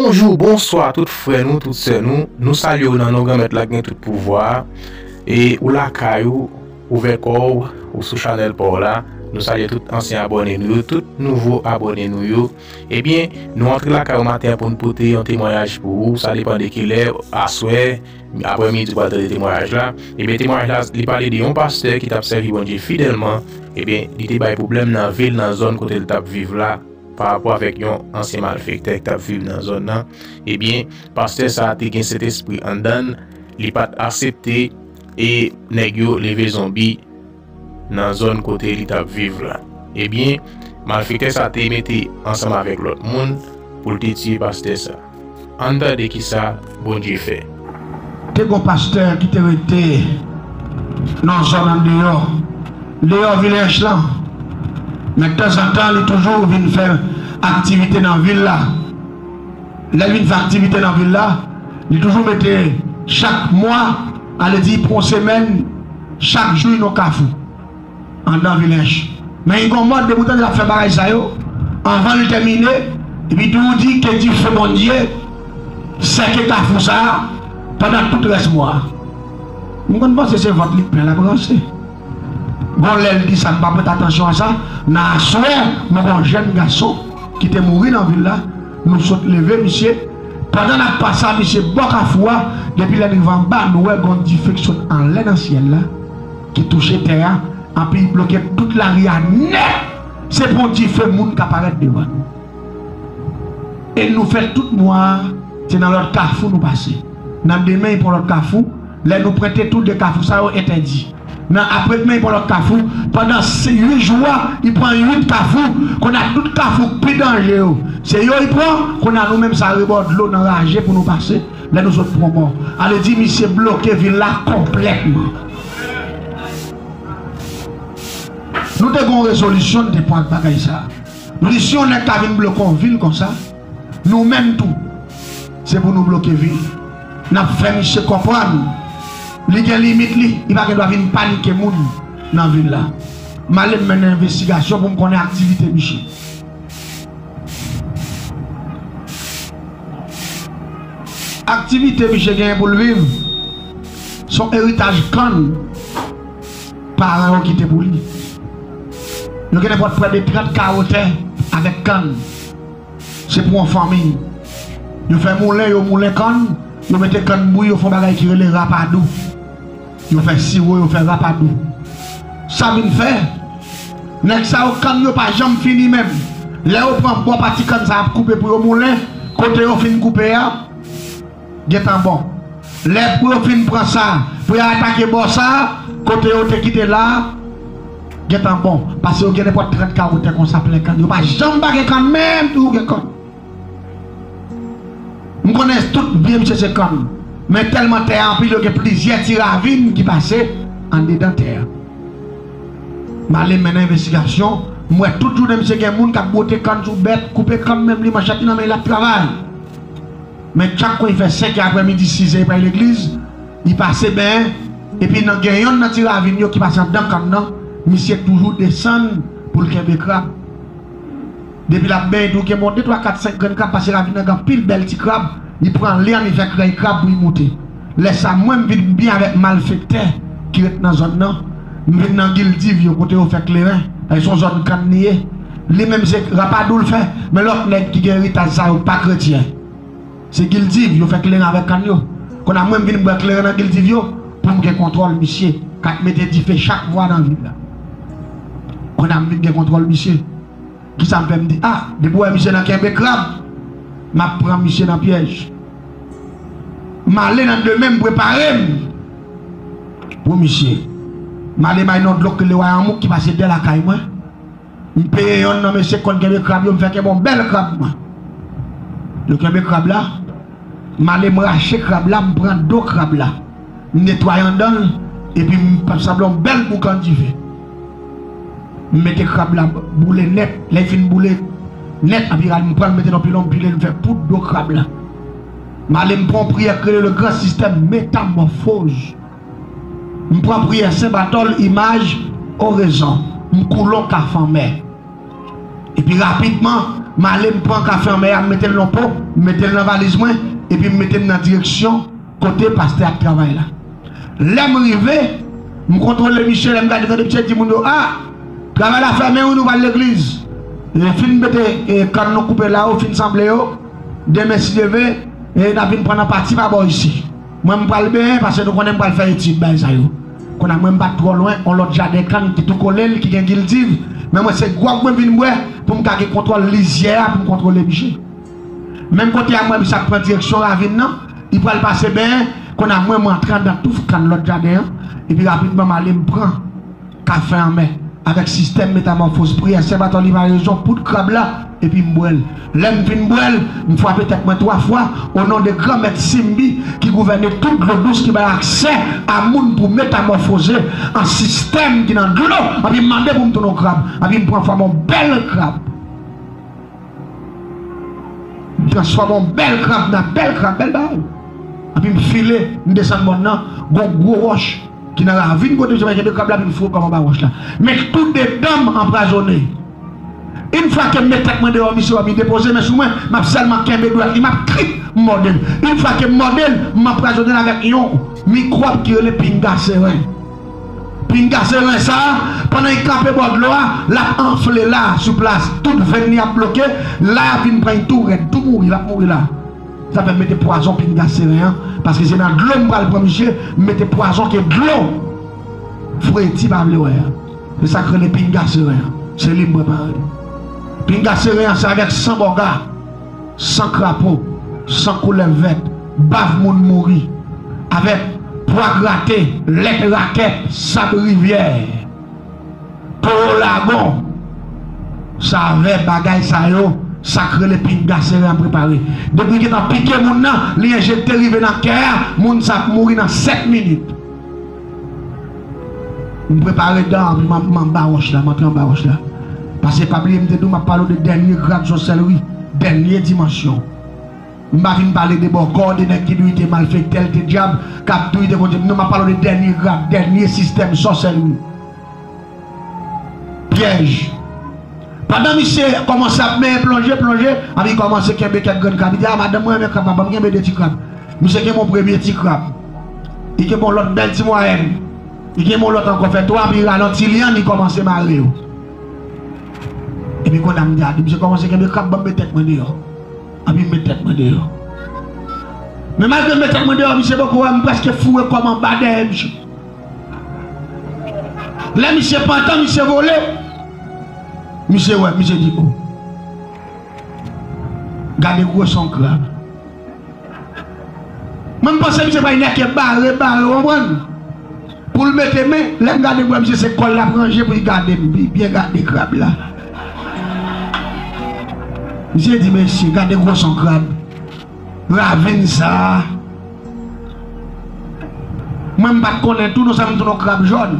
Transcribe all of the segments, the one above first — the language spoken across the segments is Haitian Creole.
Bonjou, bonswa tout frè nou, tout sè nou, nou salye ou nan non Granmèt la ki gen tout pouvwa a, e ou lakay ou, ouvè kò ou, ou sou chanèl pa w la, nou salye tout ansyen abòne nou yo, tout nouvo abòne nou yo, ebyen nou antre lakay ou maten an pou nou pote yon temwayaj pou ou, sa depan de kilè, aswè, aprè midi ou pral tande temwayaj la, ebyen temwayaj la li pale de yon pastè ki t ap sèvi Bondye fidèlman, ebyen li te bay pwoblèm nan vi l nan zòn kote l t ap viv la. pa rapò avèk yon ansyen malfektè ki t ap viv nan zòn nan, ebyen pastè sa te gen sentespri anndan l, li pa t asepte e nèg yo leve zonbi nan zòn kote li t ap viv la, ebyen malfektè sa te mete ansanm avèk lòt moun pou l te tiye pastè sa. Ann tande ki sa Bondye fè. Te gon pastè ki te rete nan yon zòn andeyò deyò vil Ench lan, men tanzantan li toujou vin fè aktivite nan vil la. Lè l vin fè aktivite nan vil la, li toujou mete chak mwa, ale di pou yon semèn, chak jou yon kafou. Andan vilej. Men Igon mòd depi w tande l ap fè bagay sa yo, anvan l tèmine, li di w di ke dife Bondye sèke kafou sa a pandan tout rès mwa a. M konn panse se vant li plen l ap ranse. Gon lè l di sa m pa prete atansyon a sa, nan aswè nou gen yon jèn gason ki te mouri nan vil la, nou sot leve misye, pandan n ap pase a misye bò kafou a, depi lè n rive anba nou wè gon dife ki sot anlè nan syèl la, ki touche tè a anpi li bloke tout lari a nèt, se pou yon dife moun ka parèt devan nou. E nou fè tout mwa a, se nan lòt kafou nou pase. Nan demen y pou yon lòt kafou, lè nou prente tou de kafou sa yo entèdi. Nan apredemen y pou yon lòt kafou, pandan uit jou a y pran uit kafou, kounye a tout kafou k pi danje yo, se yo y pran, kounye a nou menm sa rebò dlo n anraje pou nou pase, lè nou sot Pwonmò, a vle di misye bloke vil la konplètman. Nou te gon rezolisyon n te pran ak bagay sa a. Nou di si yon nèg ka vin bloke yon vil konsa, nou menm tou se pou nou bloke vil. N ap fè misye konprann li gen limit li, li pa gen dwa vin panike moun nan vil la. M ale m mennen envestigasyon pou m konnen aktivite misye. Aktivite misye genyen pou l viv son eritaj kann paran yo kite pou li. Yo gen nenpòt pwè de 30 kawo tè avèk kann. Se pou yon fanmi. Yo fè moulen, yo moulen kann, yo mete kann bouyi, yo fè yon bagay ki rele rapadou. Yo fè siwo yo fè rapadou. Sa vin fè, nèg sa yo kann yo pa janm fini menm. Lè yo pran bò pati kann sa y ap koupe pou yo moulen, kote yo fin koupe a gentan bon. Lè pou yo fin pran sa pou y al atake bò sa a, kote yo te kite la a gentan bon. Pase yo gen nenpòt 30 kawo tè konsa plen kann. Yo pa janm pa gen kann menm tou. M konnen tout byen misye se kòm men tèlman tè a anpil yo gen plizyè ti ravin ki pase andedan tè a. M ale mennen envestigasyon, m wè tout jounen misye gen moun k ap bwote kann sou bèt, koupe kann menm li manchèt li nan men li l ap travay. Men chak kon li fè senkè aprèmidi size prè legliz li pase benyen epi nan gen yonn nan ti ravin yo ki pase andan kann nan misye toujou desann pou l kenbe krab. Depi lap benyen dou gen bon de twa kat senk grenn krab pase ravin nan gen anpil bèl ti krab li pran lè an li fè krèy krab pou li moute lè sa mwen m vin knbyen avèk malfektè ki ret nan zòn nan m vin nan gildiv yo kote yo fè kleren paske son zòn kann li ye li menm se rapadou l fè men lòt nèg ki gen eritaj sa yo pa kretyen se gildiv yo fè kleren avèk kann yo konn a mwen m vin bwè kleren nan gildiv yo pou m gen kontwòl misye kap mete dife chak mwa nan vil la konn a m vin gen kontwòl misye. Kisa m fè m di ah depi w wè misye nan kenbe krab m ap pran misye nan pyèj M ale nan demen m prepare m pou misye M ale bay non dlo k rele wayanmouk ki pase dè lakay mwen M peye yonn nan mesye k konn kenbe krab yo m fè kenbe yon bèl krab mwen Yo kenbe krab la M ale m rache krab la m pran do krab la m netwaye andan l epi m fè sanble yon bèl boukan dife M mete krab la boule nèt, lè li fin boule nèt anpi rale m pran l mete nan pilon m pile l m fè poud do krab la. M ale m pran yon priyè k rele le gran sistèm metamòfoz m pran priyè sen batòl imaj orezon m koule yon kafe anmè epi rapidman m ale m pran kafe anmè a m mete l nan po m mete l nan valiz mwen epi m mete m nan direksyon Kote pastè ap travay la. Lèm rive, m kontwole miche lèm gade tande miche di moun yo ah travay la fèmen wi nou pral legliz e fin mete kann nou koupe la yo fin sanble yo demen si Dye ve e nap vin pran nan pati pa bò isi mwen m pral benyen pase nou konnen m pral fè etid bay sa yo konnya mwen m pat twò lwen on lòt jaden kann ki tou kolel ki gen gildiv men mwen se gwòg mwen vin bwè poum ka gen kontwòl lizyè a poum kontwole miche. Menm kote a mwen m sa pran direksyon ravin nan, li pral pase bèè konn a mwen m rantre anndan touf kann lòt jaden an epi rapidman m ale m pran kafe anmè avèk sistèm metamòfoz priyè sè Batòli Vayezon poud krab la epi m bwè l lè m fin bwè l m fwape tèt mwen 3 fwa onon de Granmèt Simbi ki gouvène tout dlo dous ki bay aksè a moun pou metamòfoze an sistèm ki nan dlo anpi m mande pou m tounen yon krab anpi m pran fòm yon bèl krab. M transfòme yon bèl krab nan bèl krab, bèl bagay. Epi m file, m desann mòn nan, gen yon gwo wòch ki nan ravin kote m te kenbe krab la epi m foure krab anba wòch la. Men tou de dan m anpwazone. Yn fwa ke m met tèt mwen deyò misye wè m li depoze men sou mwen, m ap sèlman kenbe dwèt li, m ap trip, m mòde l. Yn fwa ke m mòde l, m anpwazone l avèk yon mikwòb ki rele pinga seren. Pinga se ren sa, pandan y tape bò dlo a, l ap anfle la a, sou plas. Tout venn li ap bloke, la a vin pran y tou rèd, tou mouri, l ap mouri la. Sa fè m mete pwazon pinga se ren an, paske se nan dlo m pral pran misye, m mete pwazon ke dlo Fredi pa vle wè a. Se sa k rele pinga se ren an. Se li m prepare. Pinga se ren an se avèk san bòga. San krapo, san koulèv vèt, bav moun mouri avèk, pwa grate, lèt rakèt, sab rivyè, towo lagon, savè bagay sa yo, sa k rele pinga sere a prepare. Depi gen tan pike moun nan, li enjekte rive nan kè a, moun sa ap mouri nan 7 minit. M prepare dan m m anba wòch la m antre anba wòch la pase pa bliye m te di w m ap pale w de dènye grad sòsèlri dènye dimansyon m pa vin pale de bòkò de nèg ki di w li te malfektè li te dyab k ap di w li te kondye m non m ap pale w de dènye grad dènye sistèm sòsèlri. Pyèj. Pandan misye kòmanse ap meye plonje, plonje, a li kòmanse kenbe kèk grenn krab. Li di, A madanm, mwen renmen krab la, ban m kenbe de ti krab. Misye kenbe yon premye ti krab. Li kenbe yon lòt bèl ti mwayèn. Li kenbe yon lòt ankò, fè twa, epi li ralanti li an, li kòmanse mare yo. Epi konn a m di a, di misye kòmanse kenbe krab, ban m met tèt mwen deyò. Anpi m met tèt mwen deyò. Men malgre m met tèt mwen deyò, misye poko wè m, m prèske foure kò m anba dèyè misye. Lè misye pantan misye vole misye wè misye di oh gade gwo son krab mwen m panse misye bay nèke bare bare ou konprann pou l mete men lè m gade m wè misye se kò l l ap ranje pou l gade m pi byen gade krab la misye di mesye gade gwo son krab. Ravin sa Mwen m pat konnen tou non sa m tou non krab jòn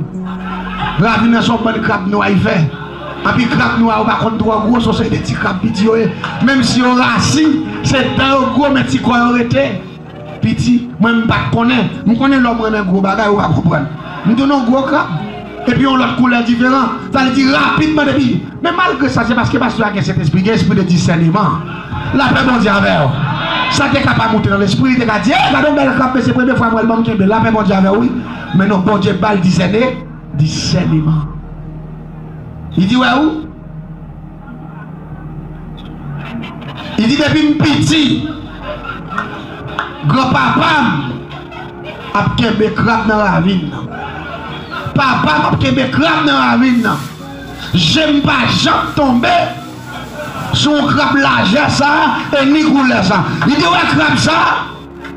Ravin nan son bann krab nwa li fè Anpi krab nwa yo pa konn twò gwo son seri de ti krab piti yo ye Menm si yo rasi se dan yo gwo men ti kò yo rete piti Mwen m pat konnen M konnen lè w renmen gwo bagay ou pa konprann M tou non gwo krab Epi yon lòt koulè diferan, sa vle di rapidman depi. Men malgre sa, se paske pastè a gen Sentespri, gen espri de disèneman. Lapè Bondye avè w. Sa te ka pa moute nan lespri, li te ka di, Ey, gade yon bèl kòb, men se premye fwa m wè l, ban m kenbe l. Lapè Bondye avè w, wi. Men non, Bondye ba l disène, disèneman. Li di, Wè ou? Li di depi m piti gran papa m ap kenbe krab nan ravin nan. Papa m ap kenbe krab nan ravin nan. Je m pa janm tonbe sou yon krab lajè sa e ni koulè sa. Li te wè krab sa.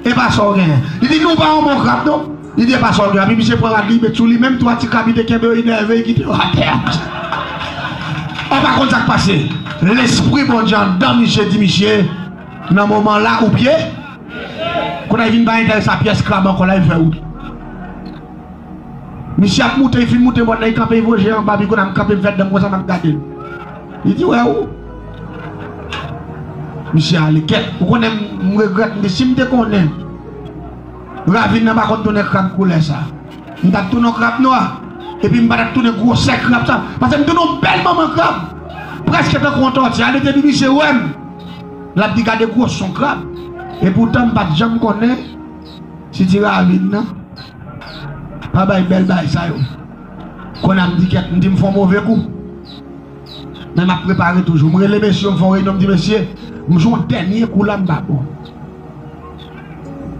E pa sa w genyen. Li di nou pa yon bon krab non. Li di e pa sa w gen. Epi misye pran rad li met sou li menm 3 ti krab li te kenbe yo li nève li kite yo atè a. Ou pa konn sa k pase. Lespri Bondye anndan misye di misye nan moman la ou pye. Kounye a li vin pa enterese a pyès krab ankò la li fè wout. Misye ap moute li fin moute mòn nan li kanpe vo je anba pi kou nan m kanpe m fè danm konsa map gadel li di wè ou misye ale kèt ou konnen m regrèt m di sim te konnen ravin nan pa konn tounen krab koulè sa m tap tounen yon krab nwa epi m patap tounen gwosè krab sa pase m tounen yon bèl manman krab prèske tankou yon tòti ale depi misye wèm lap di gade gwoson krab epoutan m pat janm konnen Titi ravin nan pa bay bèl bay sa yo konn a m di kèt m di m fon move kou men m ap prepare toujou m rele mesye yo m fon reyinyon m di mesye m jwe yon dènye kou la m pa bon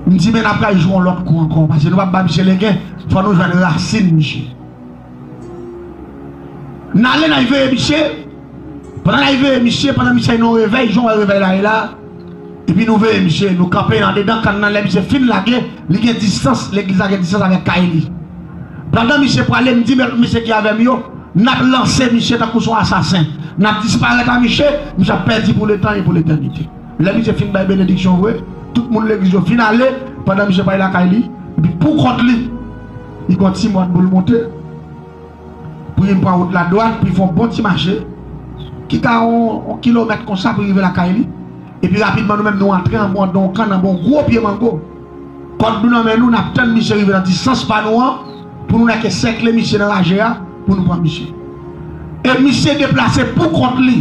m di men n ap pral jwe yon lòt kou ankò pase nou pa p bay misye legen fò nou jwenn rasin misye. Nale nay veye misye Pandan nay veye misye Pandan misye nou revey Jan w wè revey la ye la Epi nou veye misye Nou kanpe andedan kann nan Lè misye fin lage Li gen distans Legliz la gen distans avèk kay li Pandan misye prale M di mèt misye ki avè m yo N ap lanse misye Tankou s on asasen N ap disparèt a misye Misye ap pèdi pou letan e pou letènite Lè misye fin bay benediksyon vre Tout moun legliz yo fin ale Pandan misye prale lakay li Epi poukont li Li pran ti mòn pou l moute. Pou li pran wout ladwàn, pou li fè yon bon ti mache, ki ta yon kilomèt konsa pou li rive lakay li. Epi rapidman nou menm nou antre anba yon don kann, anba yon gwo pye mango. Kòd nou nan men nou, n ap tann misye rive nan distans pa nou an pou nou nèke sèkle misye nan raje a pou nou pran misye. E misye deplase pou kont li.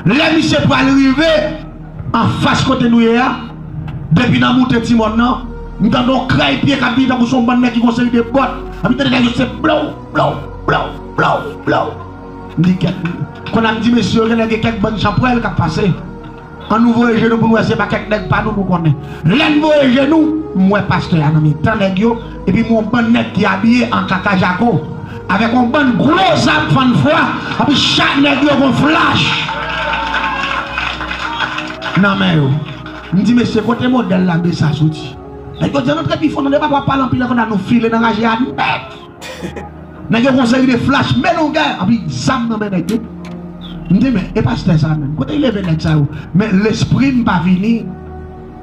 Lè misye pral rive. Anfas kote nou ye a, depi nan moute ti mòn nan, m tande yon kray pye k ap vini tankou se yon bann nèg ki gen yon seri de bòt. Epi m tande kay yo se blow, blow, blow, blow, blow. M di kèk Kon ap di mesye yo genlè gen kèk bann chanpwèl k ap pase. An nou voye je nou pou n wè se pa kèk nèg pa nou nou konnen. Lè n voye je nou, m wè pastè a nan mitan nèg yo. Epi m wè bann nèg ki abiye an kaka jako avèk yon bann gwo zam fann fwa, anpi chak nèg yo gen yon flach nan men yo. M di mesye kote modèl lame sa soti? Nèg yo di an antre pi fon nan depa wap pale anpil anvan nan nou file nan raje a nèt. Nèg yo gen yon seri de flach belougè anpi zam nan men nèg yo. M di men e pastè sa menm kote li leve nèg sa yo? Men lespri m pa vini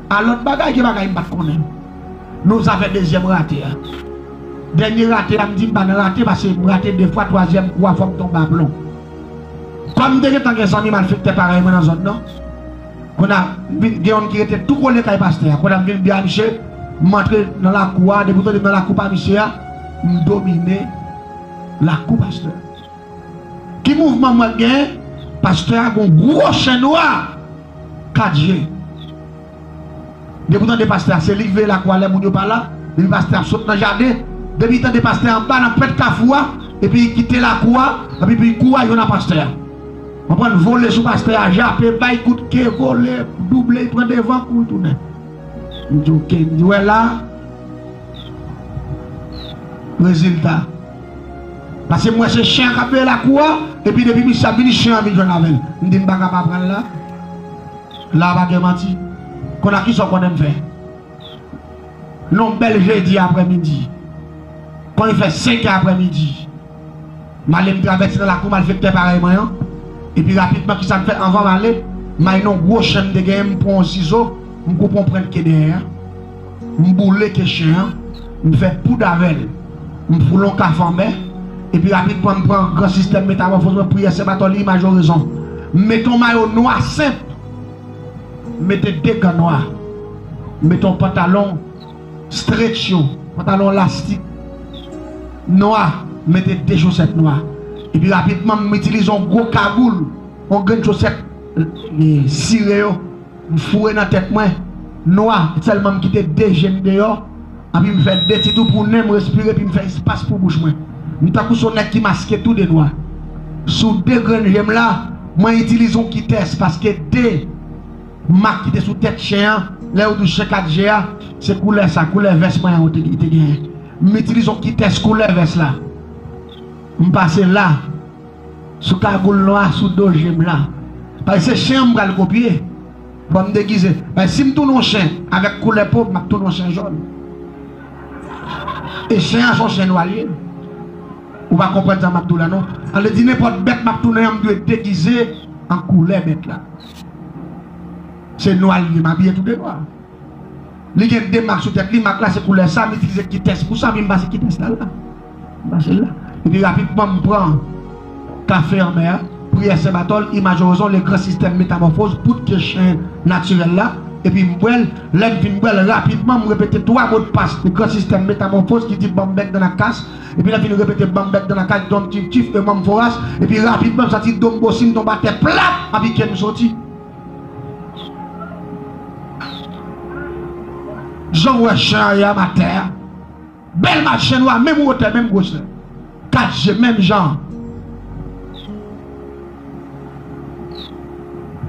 a lòt bagay ke bagay m pat konnen. Nou zafè dezyèm rate a. Dènye rate a m di m pa nan rate pase m rate 2 fwa twazyèm kou a fò m tonbe a plon. Kòm m te gentan gen zanmi malfektè parèy mwen nan zòn nan, konn a m vin gen yonn ki rete tou kole kay pastè a, konn a m vin di a misye m antre nan lakou a, depi m tande m nan lakou pa misye a, m domine lakou pastè a. Ki mouvman m wè m gen? Pastè a gen yon gwo chen nwa 4 je. Depi w tande pastè a se li k veye lakwa lè moun yo pa la, depi pastè ap sot nan jaden, depi tande pastè anba nan pwent kafou a epi kite lakou a epi pi kou a jwenn a pastè a. Konprann vole sou pastè a jape bay kout ke vole double pran devan kouri tounen. M di ok m di wè la rezilta paske m wè se chen an k ap veye lakou a epi depi misye ap vini chen an vin jwenn avè l m di m paka pa pran l la. La a pa gen manti. Kon a kisa w konnen m fè? Yon bèl jedi aprè midi, kon li fè senkè aprè midi, m ale m travèse nan lakou malfektè parèy mwen an, epi rapidman kisa m fè anvan m ale, may yon gwo chen m te genyen m pran yon sizo m koupe yon pwent ke dèyè a. M boule ke chen an, m fè poud avè l, m foule yon kaf anmè, epi rapidman m pran gran sistèm metamòfoz mwen, priyè Sen Batòli, imaj orizon. M mete yon mayo nwa senp, m mete de gan nwa, m mete yon pantalon stretch yo, pantalon lastik nwa, m mete de chosèt nwa, epi rapidman m itilize yon gwo kagoul, yon grenn chosèt sire yo. M foure nan tèt mwen, nwa, sèlman m kite de je m deyò, anpi m fè de ti tou pou nen m respire epi m fè espas pou bouch mwen. M tankou s on nèg ki maske tou de nwa. Sou de grenn je m la, mwen itilize on kitès paske de mak ki te sou tèt chen an, lè yo di w chen kat je a, se koulè sa, koulè vès mwen an li te genyen. M itilize on kitès koulè vès la, m pase la. Sou kagoul nwa sou do je blan. Paske se chen an m pral kopye. Bon m degize. Paske si m tounen yon chen avèk koulè po m m ap tounen yon chen jòn. E chen an se yon chen nwa li ye. Ou pa konprann sa m ap di w la non. Sa vle di nenpòt bèt m ap tounen an m dwe degize an koulè bèt la. Se nwa li ye m abiye tou de nwa. Li gen 2 mak sou tèt li, mak la se koulè sa, m itilize kitès pou sa, epi m pase kitès la la, m pase l la, epi rapidman m pran kafe anmè a, priyè Sen Batòl, imaj Orezon, le gran sistèm, metamòfoz, poud ke chen natirèl la, epi m bwè l, lè m fin bwè l, rapidman m repete 3 modpas le gran sistèm, metamòfoz, ki di banm bèk dan ak kas, epi lè m fin repete banm bèk dan ak kas, donm tif tif, e manm voras, epi rapidman m santi do m bosi, m tonbe atè plat, m apikem m soti. Janw wè chen an ye a ma tè a bèl ma chen wa menm wotè menm gwosè 4 je menm jan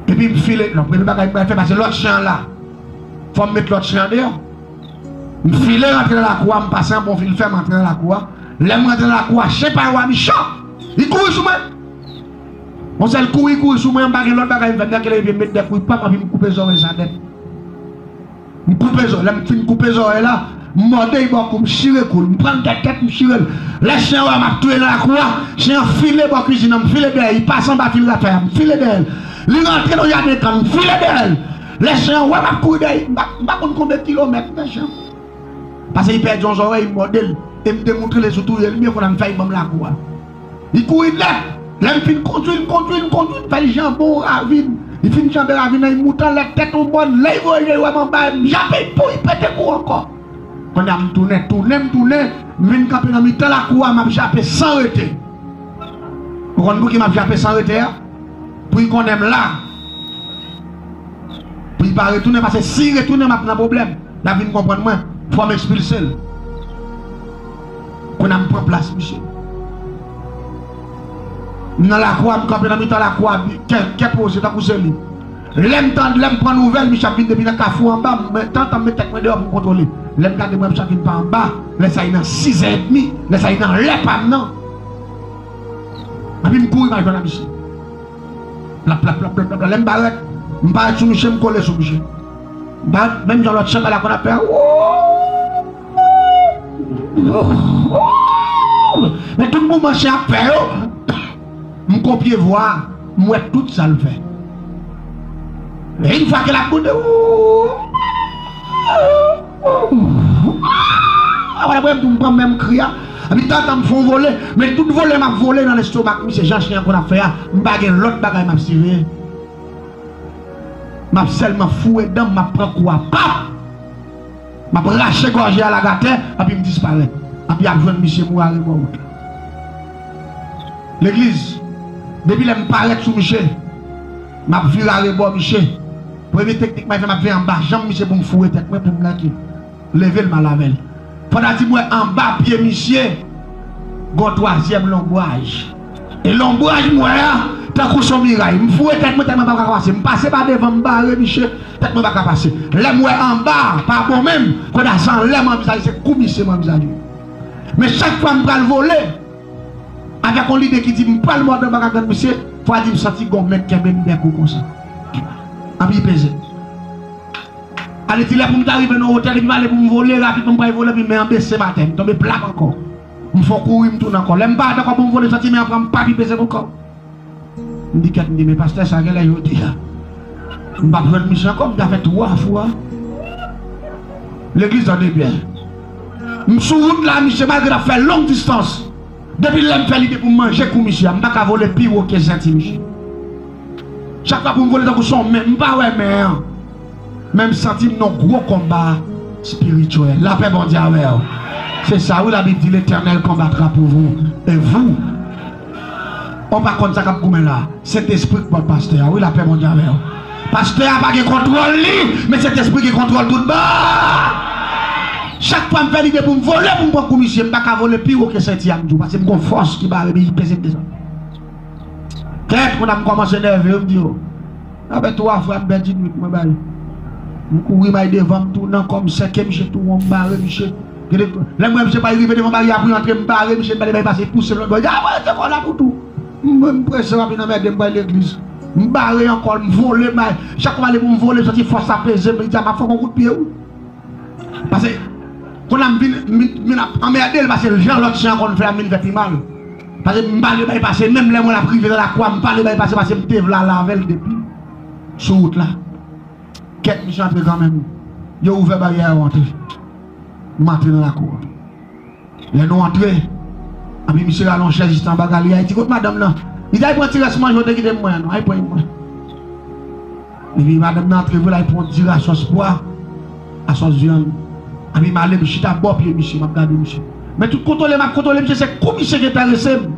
epi m file non premye bagay m pral fè pase lòt chen an la fòm met lòt chen an deyò m file rantre nan lakou a m pase anba yon fil fè m rantre nan lakou a lèm rantre nan lakou a chen pa yo a michan li kouri sou mwen. Yon sèl kouri kouri sou mwen mpa gen lòt bagay m fè Dankele vin met dèk wi pam anpi m koupe zòrèy sa nèt m koupe zòrèy lèm fin koupe zòrèy la m mòde yi bò kou m chire kou l m prann tèt tèt m chirel lè chen an wèm ap touye nan lakou a chen an file bò kwizin nan m file dèyè li pase anba fil rafè a m file dèyè l li rantre nan jaden kan m file dèyè l lè chen an wèm ap kouri dèyè m pa konn konbe kilomèt men chen pase li pèdi yon zòrèy m mòde l e m te moutre l e sou touye l m byen konn an m fè yi banm lakou a. Li kouri dlè. Lè li fin kondwi, li kondwi, li kondwi, li fè li janbe yon ravin. Li fin janbe ravin nan, li moute anlè tèt yon mòn. Lè li voye je li wè m anba e m jape, pou li pete kou ankò. Kounye a m tounen, tounen, m tounen, m vin kanpe nan mitan lakou a, m ap jape san rete. Ou konn pouki m ap jape san rete a? Pou li konnen m la. Pou li pa retounen, pase si li retounen m ap nan pwoblèm. L ap vin konprann mwen. Fò m ekspilse l. Kona m pran plas misye. M nan lakwa, m kanpe nan mitan lakwa, kè, kè poze tankou se li. Lè m tande, lè m pran nouvèl misye ap vin depi nan kafou anba, m mwen tantan m met tèt mwen deyò pou m kontwole. Lè m gade m wè misye ap vin pa anba, lè sa li nan sizè edmi, lè sa li nan lè pa m nan. Epi m kouri m al jwenn a misye. Plap, plap, plap, plap, plap, lè m parèt, m parèt sou misye, m kole sou misye. M parèt menm jan lòt chenbè la konn ap fè, wouuuuu. Men tout mouvman chen ap fè yo M kopye vwa a, m wè tout sa l fè E yn fwa ke l ap bout Apre m tou m pran menm kri a Epi tantan m fè yon vole Men tout vole m ap vole nan lestomak misye jan chen an konn ap fè a M pa gen lòt bagay m ap siveye M ap sèlman foure dan m m ap pran kou a Pap! M ap rache gòje alagatè anpi m disparèt. Anpi y ap jwenn misye mou arebò wout la. Legliz, Depi lè m parèt sou miche, m ap vire arebò miche. Premye teknik mwen fè, m ap veye anba janm misye pou m foure tèt mwen pou m nan ke. Leve l m al avè l. Fòt a di m wè anba pye misye gen yon twazyèm longwaj. E lonbraj m wè a, tankou s on miray. M foure tèt mwen tèlman m pa ka pase. M pase pa devan, m bare miche, tèt mwen pa ka pase. Lè m wè anba a pa bon menm, kote a se anlè m anvizaje, se kou misye m anvizaje. Men chak fwa m pral vole, avèk on lide ki di m pral mòde anba gagann misye, fò a di m santi gen on men k kenbe m dèkou konsa. Anpi peze. Ale di lè pou m ta rive nan wotè li, m pale pou m vole, rapidman m pral vole, anpi men an bese m atè, m tonbe plat ankò. M fon kouri m tounen ankò. Lè m pa dakò pou m vole soti men an pran m pa pi peze m ankò. M di kèt m di men pastè sa genlè jodi a m pap jwenn misye ankò m ta fè 3 fwa legliz lan debyen. M sou wout la misye malgre nap fè long distans depi lè m fè lide pou m manje kou misye a m paka vole pi wo ke senti misye. Chak fwa pou m vole tankou son men m pa wè men an. Menm santim non gwo konba spirituel lapè Bondye avèw se sa wi labib di letènèl konbatra pou vou e vou on pa konn sa kap goumen la sentespri k bòt pastè a wi lapè Bondye avèw pastè a pa gen kontròl li men sentespri gen kontròl tout bon chak fwa m fè lide poum vole poum pran kou misye m paka vole pi wo ke senti a m djou pasem gon fòs ki barem e ki pezem desann tèt konn a m kòmanse nève yo m di yo. Aprè 3 frap Berdjine Louis mwen bay m kouri may devan m tou nan kò m sèke misye tou won m bare misye gede lèm wè misye pral rive devan baryè a pou l antre m bare misye m pale bay pase pouse lòt bò ya voye se kò la toutou m m prese wap vin anmède m pral legliz m bare ankò m vole may chak fwa m ale pou m vole m santi fòs sa peze m li di a map fè w gon kout pye wi. Pase Kon la m vin vin ap anmède l pase jan lòt jan konn fè a m vin fè pi mal pase m pale bay pase menm lè mwen ap rive nan lakou a m pale bay pase pase m te vle ale avè l depi sou wout la kèt misye antre kanmenm yo ouvè baryè a yo antre m antre nan lakou a. Lè nou antre, anpi misye rale yon chèz jis anba galeri a, li di, Kot madanm nan? Li di, Al pran ti rès manje w te kite pou mwen an non, al pran yon manje. Epi madanm nan antre vre, l al pran yon diri a sòs pwa, a sòs vyann. Anpi m ale, m chita bò pye misye, m ap gade misye. Men tout kontwole m ap kontwole misye, se kou misye gen enterese m.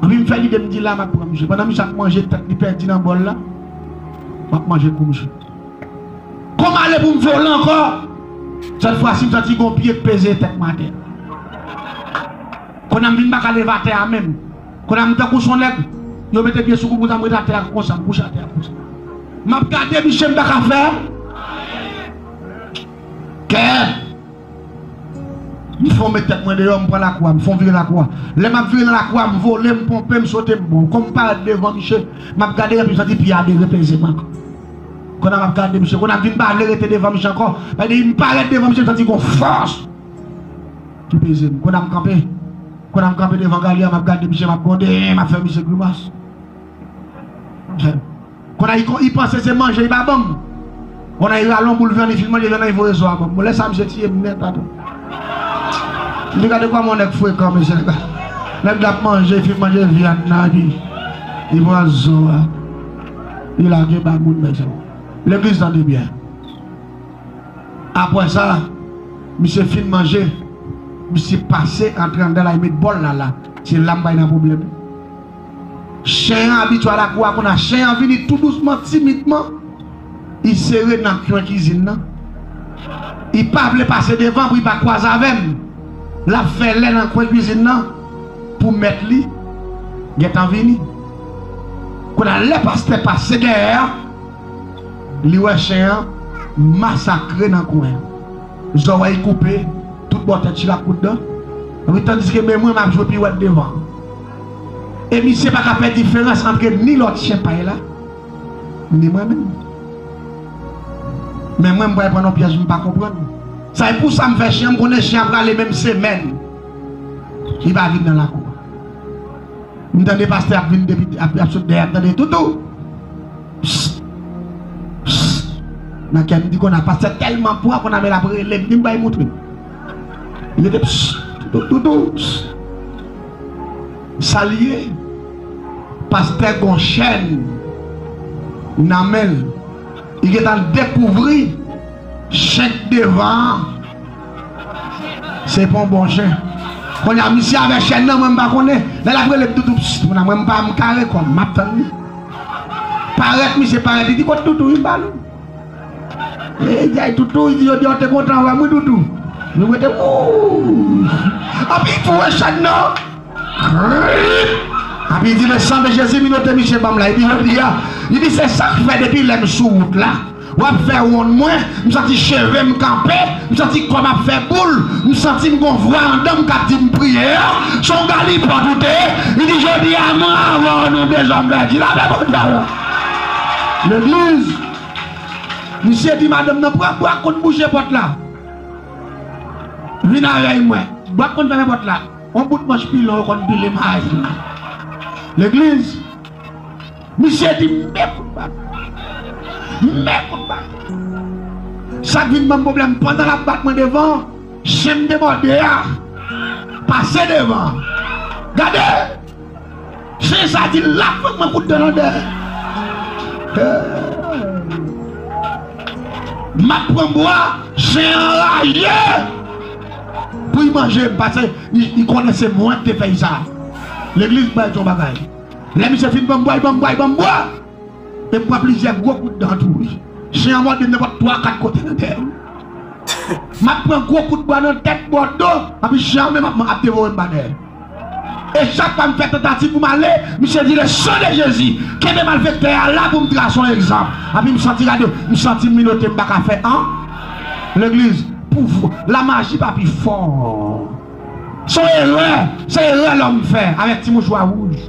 Anvi m fè lide m di la m ap pran misye pandan misye ap manje tèt li pèdi nan bòl la m ap manje kou misye. Kou m ale pou m vole ankò sèt fwa si m santi gon pye k peze tèt m atè. Kounye a m vin pa ka leve atè a menm. Kounye a m tankou son nèg yo mete pye sou kou m konsa m ret atè a konsa m kouche atè a konsa. M ap gade misye m pa ka fè anyen. Kè. M fè w met tèt mwen deyò, m pran lakwa, m fè w vire lakwa. Lè m ap vire nan lakwa, m vole, m ponpe, m sote, m bon. Kon m parèt devan miche, m ap gade l epi m santi pye a derepeze m ankò. Kon a m ap gade miche, kon a m vin pa vle rete devan miche ankò. Bay depi m parèt devan miche, m santi gon fòs ki peze m. Kon a m kanpe, kon a m kanpe devan galya, m ap gade miche, m ap gwonde, m ap fè miche grimas. Bon ay kon ipanse se manje li pa banm bon ay ralon boul vyan li fin manje vyan nan ivoye zo a banm bon lè sa misye tiyem nèt atò antuka gade kòman yon nèg frekan mesye nèg la ap manje fin manje vyan nan epi li pran zo a li lage ba moun mesye legliz tande byen apwè sa misye fin manje misye pase antre andan la li met bòl la la se lam bay nan pwoblèm. Chen an abitye al akou a konn a chen an vini tou dousman timidman i sere nan kwen kizin nan i pa vle pase devan pou i pa kwaze avè m lap fè lè nan kwen kizin nan pou mèt li gentan vini konn a lè pastè pase dèyè a li wè chen an masakre nan kwen an zòrèy koupe tout bò tèt chila kout dan tandiske men mwen map jwe piwèt devan. E misye pa ka fè diferans antre ni lòt chyen pay la, ni mwen menm. Men mwen m pral pran nan pyèj m pa konprann. Sa e pou sa m fè chyen an, m konnen chyen an prale men m semèn li pa vin nan lakou a. M tande pastè ap vin depi ap sot dèyè a m tande toutou pss pss nan kè m m di konn a pastè tèlman pran konn a men l ap rele m di m bay moutre. Mete ps pou doudou ps. Sal ye pastè gon chèn nan menl li gentan dekouvri chen k devan an se pon bon chen konnya misye avè chèn nan mwen m pa konnen lè lap rele p doudou ps mwen m pa m kare kòm map tann li parèt misye parèt li di kot doudou vin ba nou. Eyy toutou wi jodi a ou te kontan avèm wi toutou Nou mete ooh Api fou wè chag nan Krip Api di le sang de Jésus vin ote misye banm la epi jodi a li di se sak fè depi lèm sou wout la wap fè wonn mwen m santi chevem kanpe m santi kòm ap fè boul m santim gon vwa andanm kap dim priye an son galipòt ou te ye li di jodi a mwen avèw nou dezòm vèjil avèm ou djòl legliz Misye di madanm nan pran bwa konn bouche pòt la. Vin avèy mwen. Bwa konn fèmen pòt la. On bout manch pilon yo konn pile mayi. Legliz. Misye di men kout bat. Men kout bat. Sak vin banm pwoblèm pandan lap bat mwen devan chen m demòde a pase devan. Gade! Chen sa di lap pran mwen kout dan nan dè map pran bwa chen an raje poul manjem pase li konnen se mwen ki te fè sa legliz bay ton bagay lè misye fin banm bwa li banm bwa li banm bwa e pran plizyè gwo kout dan tou wi chen an mòdem nenpòt 3 4 kote nan dèyèm map pran gwo kout bwa nan tèt bò do epi chen an menm ap devorem pa dèyèm. E chak fwa m fè tantativ pou m ale, misye di le sang de Jezi, kenbe malfektè a la pou m trase yon egzanp. Anpi m santi gade, m santi m minote m pa ka fè an. Legliz, pouvwa, lamaji pa pi fò. Se yon erè, se erè lòm fè avèk ti mouchwa wouj,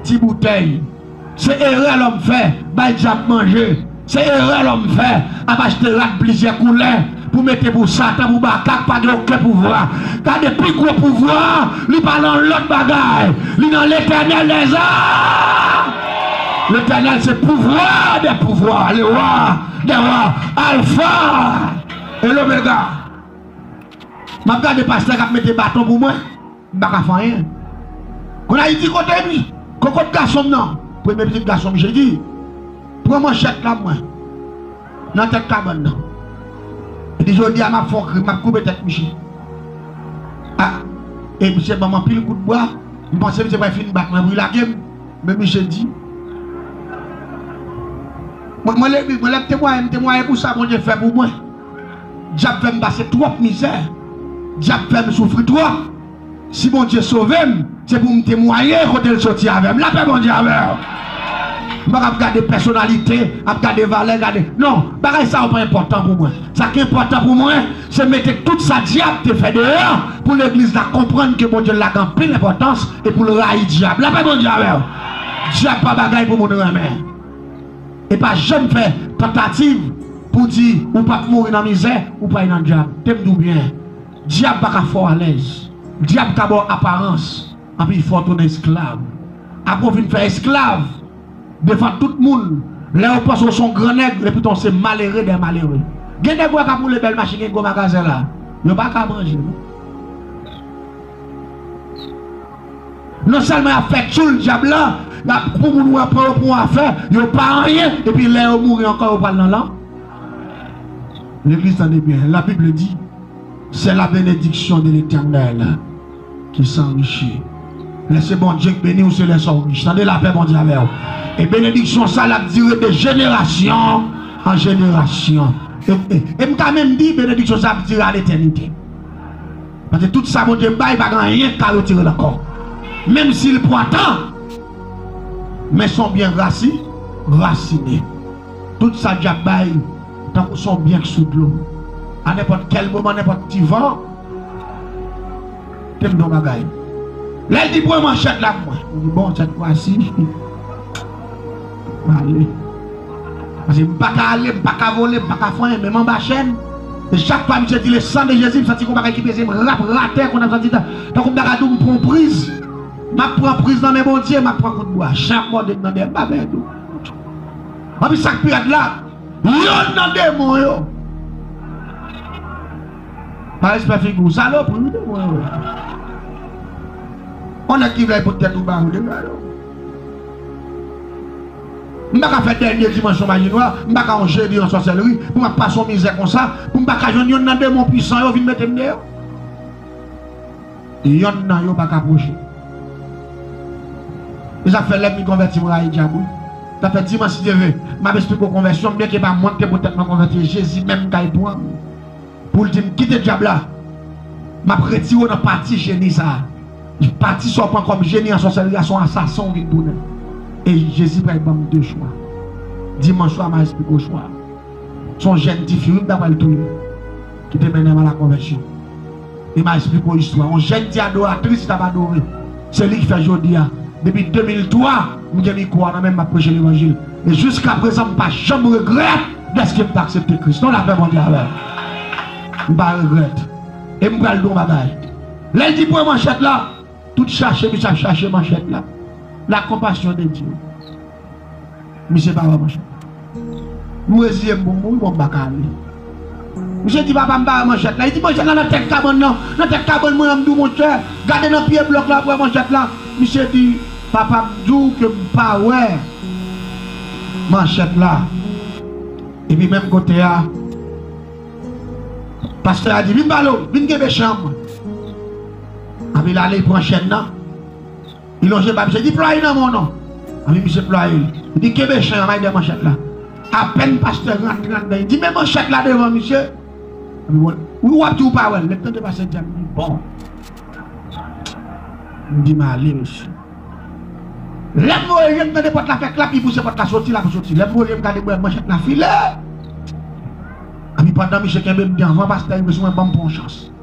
ti boutèy. Se erè lòm fè, bay dyab manje. Se erè lòm fè, ap achte rad plizyè koulè pou mete pou Satan, pou Baka k pa gen oken pouvwa. Gade pi gwo pouvwa a, li pa lan lòt bagay, li nan Letènèl dè zam! Letènèl se Pouvwa dè pouvwa, le Wa dè wa, Alfa e Lomega. M ap gade pastè k ap mete baton pou mwen. M pa ka fè anyen. Konn Ayiti kote m. Kokot gason m nan. Premye pitit gason m Jedi pran manchèt la mwen nan tèt kabann nan. Li di jodi a m ap fè yon krim, m ap koupe tèt misye. A! E misye ban m anpil kout bwa. M panse misye pral fin bat mwen pou li lage m. Men misye di. Mwen lè m temwaye m temwaye pou sa Bondye fè pou mwen. Dyab fèm pase twòp mizè Dyab fèm soufri twòp Si Bondye sovem se poum temwaye kotel soti avèm Lapè Bondye avèw M paka ap gade pèsonalite ap gade valè gade non bagay sa yo pa enpòtan pou mwen Sak enpòtan pou mwen se mete tout sa dyab te fè deyò pou legliz la konprann ke Bondye la gen anpil enpòtans e poul rayi dyab Lapè Bondye avèw Dyab pa bagay pou moun renmen. e pa janm fè tantativ pou di ou pap mouri nan mizè ou pral nan dyab tem diw byen dyab paka fè w alèz dyab ka baw aparans anpi fè w tounen esklav apre w fin fè esklav devan tout moun lè yo panse w son gran nèg lè poutan w se malere dè malere gen nèg wè kap woule bèl machin gen gwo magazen la yo paka manje non. Non sèlman yap fè tchoul dyab la, yap pou moun wè pran yo pou yon afè, yo pa anyen, epi lè yo mouri ankò yo pral nan lan. Legliz tande byen, la bible di, se la benediksyon de letènèl ki sanrichi. Lè se Bondye k beniw se lè sa w rich tande lapè Bondye avèw e benediksyon sa lap dire de jenerasyon an jenerasyon e m ka menm di benediksyon sa ap dire a letènite. Paske tout sa Bondye bay pa gen anyen ki ka retire l ankò. Menm si l pwa tan, men s on byen rasi, rasine. Tout sa Dyab bay tankou s on byen k sou dlo. A nenpòt kèl moman, nenpòt ti van, te m di on bagay. Lè l di pran manchèt la pou mwen, m di bon, sètfwasi. Mwen pa ale. Paske m pa ka ale, m pa ka vole, m pa ka fè anyen. Menm anba chèn, chak fwa misye di le sang de Jezi, m santi gon bagay ki peze m rap ratè konn ap santi tankou m ta ka di w m pran priz. M ap pran priz nan men Bondye, m ap pran kout bwa. Chen ap mòde m nan dèyè, m pa pè tou. Anpi sa k pi rèd la, yonn nan demon yo Pa respè figi w, salopri wi demon yo. On nèg ki vle pote tèt ou ba ou deja yo. M pa ka fè dènye dimansyon maji nwa, m pa ka yon jedi yon sòsèlri pou m ap pase yon mizè konsa, pou m pa ka jwenn yonn nan demon puisan yo vin mete m deyò. Yonn nan yo pa ka pwoche m. E sa k fè lè m vin konvèti m rayi dyab wi. Sa fè dimanch si Dye ve, m ap esplike w konvèsyon m byenke e pa mwen ki te pote tèt mwen konvèti e Jezi menm m ka y pran m. Pou l di m, Kite dyab la! M ap retire w nan pati jeni sa a. Pati sa a w pran kòm jeni an sòsèri a se yon asasen w vin tounen. E Jezi pral ban m de chwa. Dimanch swa m al esplike w chwa a. Se yon jèn tifi wi m ta pral touye l ki te mennen m alakonvèsyon. E m al esplike w istwa yon jèn ti adoratris li t ap adore. Se li ki fè jodi a, depi 2003, m gen mikwo a nan men m, m ap preche levanjil. E jiskaprezan m pa janm regrèt dèske m te aksepte Kris. Non, lapè Bondye avè w. M pa regrèt. E m pral di w yon bagay. Lè l di pran manchèt la, tout chache misye ap chache manchèt la, lakonpasyon de Dye. Misye pa wè manchèt. M reziye m pou m mouri bon m pa ka ale. Misye di papa m pa wè manchèt la. Li di manchèt la nan tèt kabann nan. Nan tèt kabann mwen an m di w monchè, gade nan pye blòk la w ap wè manchèt la. Misye di papa m di w ke m pa wè manchèt la. Epi menm kote a, pastè a di vin pale w, vin kenbe chèn mwen. Epi l ale l pran chèn nan. Li lonje bab se di plwaye nan men w non Anvi misye plwaye l Li di kenbe chen an bay de manchèt la Apèn pastè rantre anndan li di met manchèt la devan misye Anvi wè l Ou wap di ou pa wè l Lè m tande pastè di sa m di bon M di m ale mesye Lè m voye je m tande pòt la fè klap li pouse pòt la soti l ap soti Lè m voye je m gade m wè manchèt la file Anvi pandan misye kenbe m devan pastè rive sou mwen ban m pran yon chans.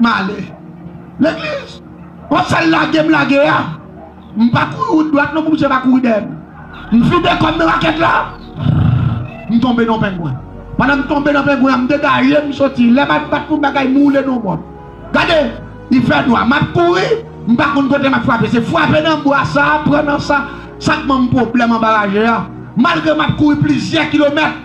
Male. Legliz. Wap fèl lage m lage a. M pa kouri wout dwat non pou misye pa kouri dèyè m. M vide kò m nan rakèt la. Prrrrr. M tonbe nan yon pengwen. Pandan m tonbe nan pengwen an m degaje m soti. Lè map bat pou bagay m woule nan yon bò. Gade! Li fè nwa. Map kouri. M pa konn kote map frape. Se frape nan bwa sa, pran nan sa. Sak banm pwoblèm anba raje a. Malgre map kouri plizyè kilomèt.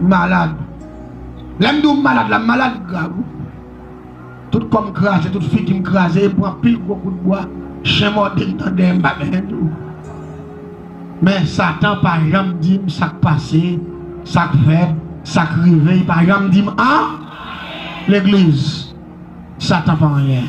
malad lèm di ou malad la m malad grav wi tout kòm kraze tout figim kraze m pran pil gwo kout bwa chen mòdem nan dèyèm m pa gen nen dlo men satan pa janm dim sak pase sak fèt sak rive li pa janm dim an legliz satan pa anyen.